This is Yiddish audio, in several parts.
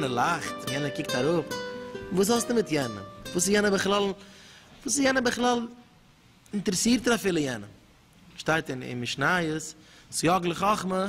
יענער לאכט, יענער קוקט אראפ, וואס האסטו מיט יענעם? וואס איז יענער בכלל? וואס איז יענער בכלל? אינטערעסירט ער אפילו יענעם? שטייט אין משניות, סייג לחכמה.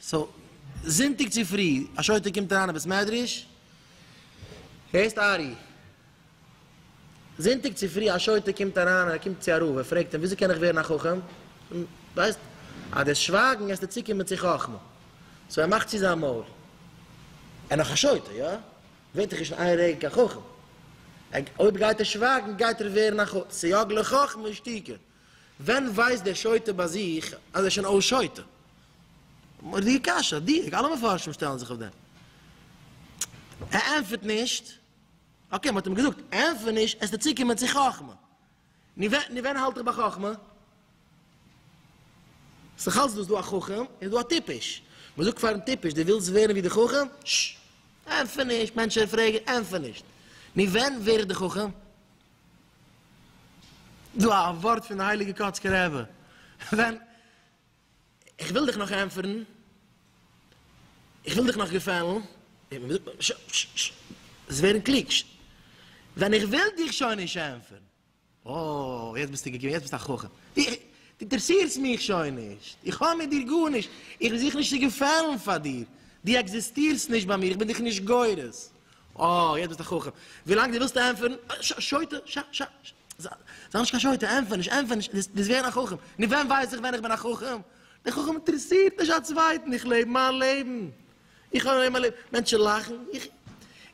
סאו זונטאג צופרי א שוטה קומט אריין אין בית מדרש, הערסט ארי? זונטאג צופרי א שוטה קומט אריין ער קומט צו א רב ער פרעגט אים וויאזוי קען איך ווערן א חכם? ווייסט אז דאס שווייגן עסטו צוקומען צו חכמה, סאו ער מאכט צו זיין מויל, ער נאך א שוטה יא? ווערט דאך נישט אין איין רגע קיין חכם, אויב גייט ער שווייגן גייט ער ווערן א חכם, סייג לחכמה שתיקה, ווען ווייסט דער שוטה ביי זיך אז ער איז שוין אויס שוטה? מורא'דיגע קשיא, אדיר, אלע מפרשים שטעלן זיך אויף דעם. ער ענטפערט נישט, אקעי מ'האט אים געזאגט ענטפער נישט העסטו צוקומען צו חכמה, נו ווען נו ווען האלט איך ביי חכמה? ס'דאך אלץ דא, ס'דא א חכם און ס'דא א טיפש, מ'זאגט פארן טיפש דו ווילסט ווערן ווי די חכם? ששש, ענטפער נישט, מענטשן פרעגן, ענטפער נישט, נו ווען ווער איך די חכם? דא א ווארט פון די הייליגע קאצקע רעבע, ווען איך וויל דיך נאך ענטפערן, איך וויל דיך נאך געפעלן, ש ש ש זיי ווערן קלוג, ש ווען איך וויל דיך שוין נישט ענטפערן, אוי יעצט ביסטו געקומען, יעצט ביסטו א חכם, די דו אינטערעסירסט מיך שוין נישט, איך האב מיט דיר גארנישט, איך זוך נישט צו געפעלן פאר דיר, דו עקזיסטירסט נישט ביי מיר, איך בין דיך נישט גורס. אה, יעצט ביסטו חכם. ווילאנג דו ווילסט ענטפערן, ש, שוטה, ש, ש, ש, זיי נישט קיין שוטה, ענטפער נישט, ענטפער נישט, דו ביסט געווען א חכם. נו ווען ווייס איך ווען איך בין א חכם? דער חכם אינטערעסירט נישט א צווייטן, איך לעב מיין לעבן. איך האב אליין מיין לעבן. מענטשן לאכן, איך,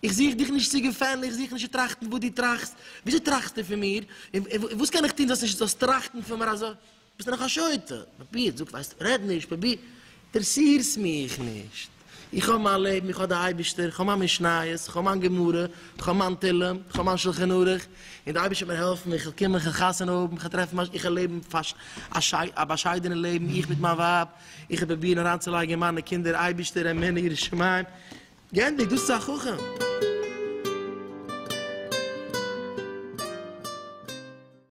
איך זוך דיך נישט צו געפעלן, איך זוך נישט צו טראכטן וואס דו טראכסט. וויאזוי טראכסטו פון מיר? און וואס קען איך טון זאלסט נישט, זאלסט טראכטן פון מיר אזוי? ביסט דאך א שוטה, פרוביר, זאג ווייסט, רעד נישט, פרוביר, אינטערסירסט מיך נישט, איך האב מיין לעבן, איך האב די אייבערשטער, איך האב מיין משניות, איך האב מיין גמרא, איך האב מיין תהלים, איך האב מיין שלחן ערוך, און די אייבערשטער וועט מיר העלפן, איך וועל קומען, איך וועל חתונה האבן, איך וועל טרעפן מיין, איך וועל לעבן א באשיידענע לעבן, איך מיט מיין ווייב, איך וועל פרובירן אריינצולייגן אין מיינע קינדער, אייבערשטער עמנו יראת שמים, גענדיגט, דאס איז א חכם.